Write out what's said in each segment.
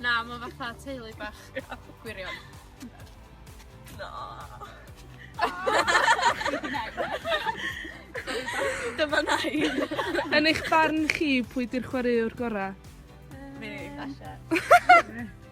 Na, ma' fatha teulu bach. Gwirion. Na. Dyma nain. Yn eich barn chi, pwy 'di'r chwaraewr gora'? Fi. Tasha.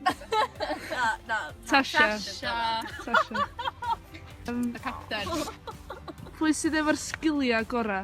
Na, na. Tasha. Tasha. Tasha. Yym. Y capten. Pwy sydd efo'r sgilia gora'?